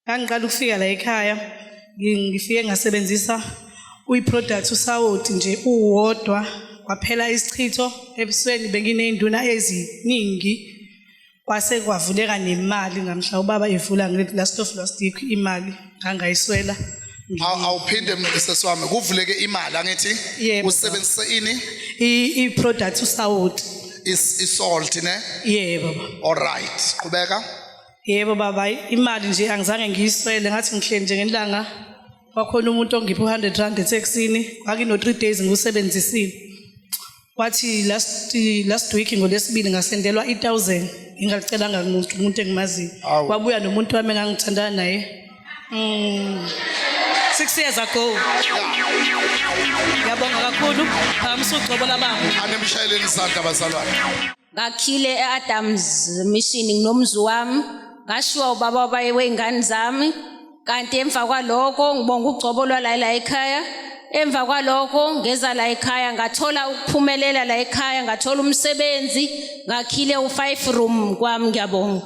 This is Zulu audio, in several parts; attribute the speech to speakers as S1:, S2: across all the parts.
S1: ngangiqala ukufika la ekhaya ngifike ngasebenzisa uyi-product usawoti nje uwodwa kwaphela isichitho ebusweni benginey'nduna eziningi kwase kwavuleka nemali ngamhla ubaba evula ngithi last of last week imali ngangayiswela awuphinde
S2: sesi wami kuvuleke imali angithi usebenzise ini i-product
S1: usawoti isalt
S2: ne yebo baba all
S1: right
S2: qhubeka yebo baba
S1: hayi, imali nje angizange ngiyiswele ngathi ngihleli nje ngelanga kwakhona umuntu ongiphe u-100 rand etheksini ngakino-three days ngiwusebenzisile wathi last last week ngolesibili ngasendelwa i-thousand ngingalicelanga kumuntu umuntu engimaziyo Awu. wabuya nomuntu wami engangithandana naye mm. six years ago ngiyabonga kakhulu um sucobola baba anemshayeleni isandla
S2: bazalwane ngakhile
S3: e-adams mission nginomzi wami ngashiwa ubaba wabaye wey'ngane zami kanti emva kwalokho ngibonga ugcobo lwalayila ekhaya emva kwalokho ngeza la ekhaya ngathola ukuphumelela la ekhaya ngathola umsebenzi ngakhile u-five room kwami ngiyabonga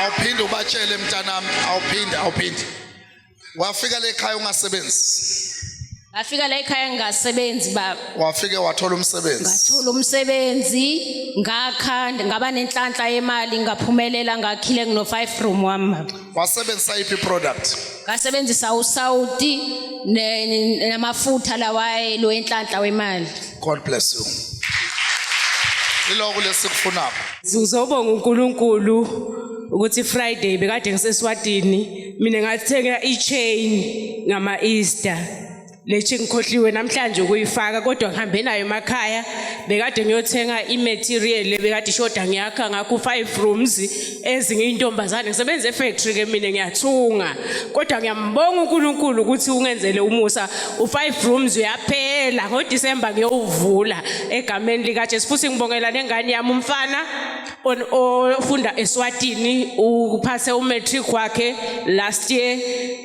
S2: awuphinde ubatshele mntanami awuphinde awuphinde wafika la ekhaya ungasebenzi ngafika
S3: la ekhaya ngingasebenzi baba wafike wathola
S2: umsebenzi ngathola umsebenzi
S3: ngakha ngaba nenhlanhla yemali ngaphumelela ngakhile ngino 5 room wami baba wasebenzisa iphi
S2: product ngasebenzisa
S3: usaudi ne- ne- namafutha lawa elo enhlanhla wemali god bless you
S2: iloko lesikufunako Ngizobonga
S4: uNkulunkulu ukuthi Friday bekade ngiseswatini mina ngathenga i-chain ngama-easter le chain ngikhohliwe namhlanje ukuyifaka kodwa ngihambe nayo emakhaya bekade ngiyothenga i-material le bekade ishoda ngiyakha ngakho five rooms ezinye intombazane ngisebenza efactory ke mina ngiyathunga kodwa ngiyambonga uNkulunkulu ukuthi ungenzele umusa u-five rooms uyaphela ngodisemba ngiyowuvula egameni likajesu futhi ngibongela nengane yami umfana on ofunda eSwatini uphase umatric wakhe last year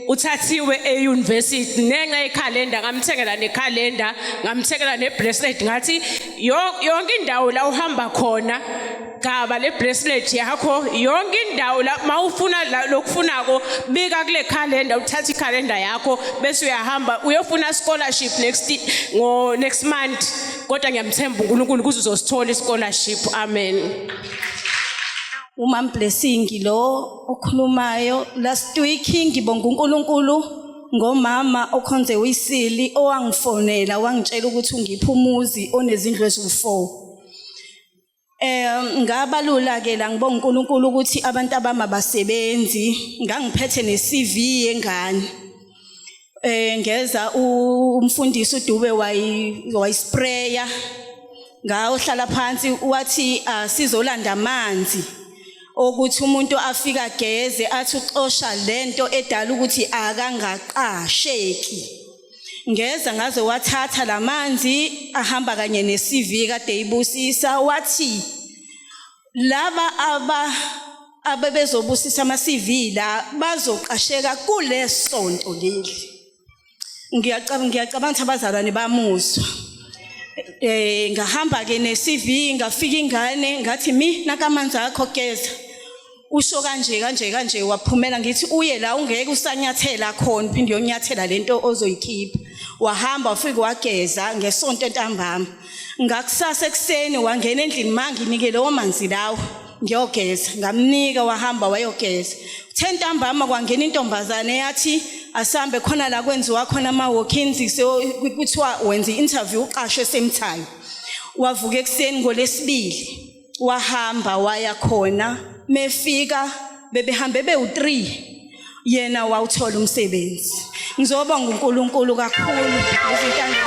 S4: uthathiwe euniversity nenxa yecalendar ngamthengela necalendar ngamthengela nebracelet ngathi yonke indawo la uhamba khona gcaba le bracelet yakho yonke indawo la mawufuna lokufunako bika kule calendar uthatha icalendar yakho bese uyahamba uyofuna scholarship next ngo next month kodwa ngiyamthemba uNkulunkulu kuze uzosithola ischolarship amen umam
S5: blessing lo okhulumayo last week ngibonga uNkulunkulu ngomama okhonze uyisili owangifonela wangitshela ukuthi ungipha umuzi onezindlu eziwu4 Eh ngabalula ke la ngibonga uNkulunkulu ukuthi abantu abama basebenzi ngangiphethe ne CV yengane eh ngeza umfundisi uDube wayispraya ngawo hlala phansi wathi asizolanda ah, amanzi okuthi umuntu afika geze athi uxosha lento edala ukuthi akangaqasheki ngeza ngaze wathatha lamanzi ahamba kanye neCV kade ibusisa wathi laba aba abebezobusisa ama CV la bazoqasheka kulesonto leli ngiyacabanga ngiyacabanga ukuthi abazalwane bamuzwa eh ngahamba ke ne CV ngafika ingane ngathi mi nakamanzi akho keza usho kanje kanje kanje waphumela ngithi uye la ungeke usanyathela khona phinde uyonyathela lento ozoyikhipha wahamba wafika wageza ngesonto entambama ngakusasa ekuseni wangena endlini manginike lowo manzi lawo ngiyogeza ngamnika wahamba wayogeza uthe ntambama kwangena intombazane yathi asambe khona la kwenziwa khona ama-walkins kuthiwa wenza i-interview uqashwe esemthayo wavuka ekuseni ngolesibili wahamba waya khona mefika bebehambe bewu3 yena wawuthola umsebenzi ngizoba nguNkulunkulu kakhulu ngizintanga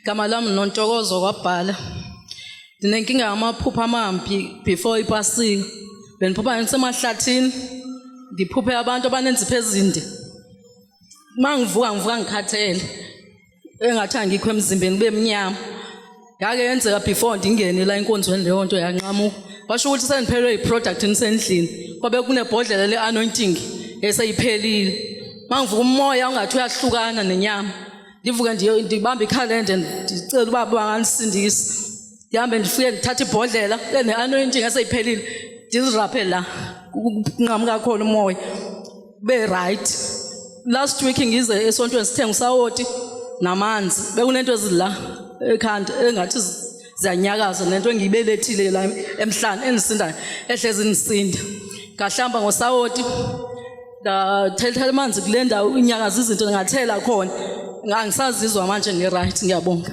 S6: Gama lami nontokozo kwabhala ndinenkinga yamaphupha amambi before ipasika bendiphupha ngisemahlathini ndiphuphe abantu abanenzipho ezinde uma ngivuka ngivuka ngikhathele engathi angikho emzimbeni kube mnyama yake yenzeka before ndingene la enkonzweni leyo nto yanqamuka washo ukuthi sendiphelelwe yiproduct nisendlini kwabe kunebhodlela le-anointing eseyiphelile uma ngivuka umoya ungathi uyahlukana nenyama ndivuke ndibambe ikhalende ndicela uba banganisindisa ndihambe ndifike ndithathe ibhodlela ene-anointing eseyiphelile ndiziraphe la kunqamuka khona umoya be right last week ngize esontweni sithenga usawoti namanzi bekunento ezila ekhanda engathi ziyanyakaza nento engiyibelethile la emhlane endisindayo ehlezi ndisinda ngahlamba ngosawoti ndathetha amanzi kule ndawo inyakaza izinto ngathela khona ngangisazizwa manje ngi-right ngiyabonga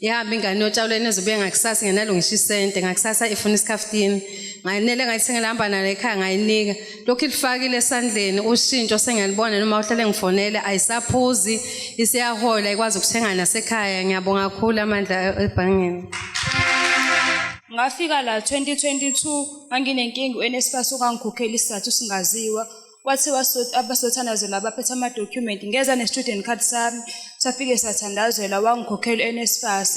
S7: Yahambe ingane yotshalwa enezobuye ngakusasa ngenalo ngisho isente ngakusasa ifuna isikhaftini ngayinele ngayithengela hamba nalo ekhaya ngayinika lokhu ilifakile esandleni ushintsho sengiyalibona noma uhlale ngifonele ayisaphuzi isiyahola ikwazi ukuthenga nasekhaya ngiyabonga kakhulu amandla ebhangeni
S5: ngafika la 2022 nganginenkinga uNSFAS okangikhokhela isizathu singaziwa kwathiwa abasothanazelwa abaphethe amadokhumenti ngeza ne-student card sami safike sathandazelwa wangikhokhela u-nsfas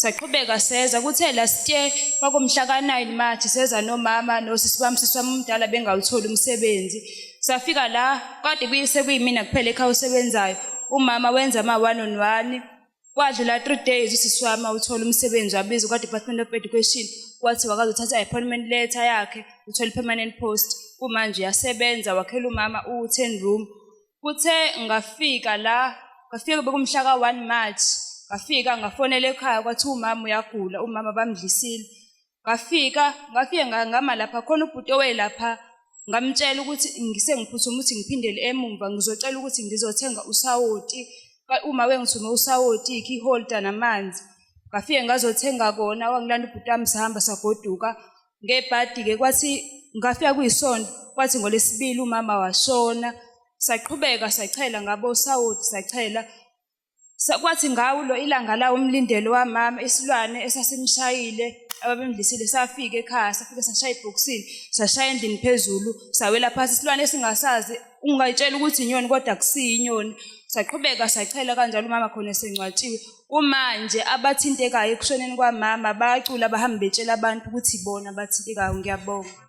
S5: saqhubeka seza kuthe last year kwakumhla ka-9 march seza nomama nosisi wami sisi wami umdala bengawutholi umsebenzi safika la kade sekuyimina kuphela ekhaya osebenzayo umama wenza ama-one on one kwadlula three days usisi wami awuthola umsebenzi wabizwa kwa-department of education wathi wakazothatha i-appointment letter yakhe uthole i-permanent post kumanje uyasebenza wakhela umama uwu-ten room kuthe ngafika la ngafika bekumhla ka-one march ngafika ngafonela ekhaya kwathiwa umama uyagula umama bamdlisile ngafika ngafike ngama lapha khona ubhuti owelapha ngamtshela ukuthi ngisengiphuthuma ukuthi ngiphindele emumva ngizocela ukuthi ngizothenga usawoti uma wengithume usawoti ikey holder namanzi ngafike ngazothenga kona wangilanda ubhuti wami sihamba sagoduka ngebhadi-ke kwathi ngafika kuyisonto kwathi ngolesibili umama washona saqhubeka sachela ngabo sawoti sachela Sakwathi ngawo lo ilanga lawo umlindelo wamama isilwane esasimshayile ababemdlisile safika ekhaya safike sashaya ibhokisini sashaya endlini phezulu sawela phansi isilwane esingasazi ungayitshela ukuthi inyoni kodwa akusiyi inyoni saqhubeka sachela kanjalo umama khona esengcwatshiwe kumanje abathintekayo ekushoneni kwamama bacula bahambe betshela abantu ukuthi ibona abathintekayo ngiyabonga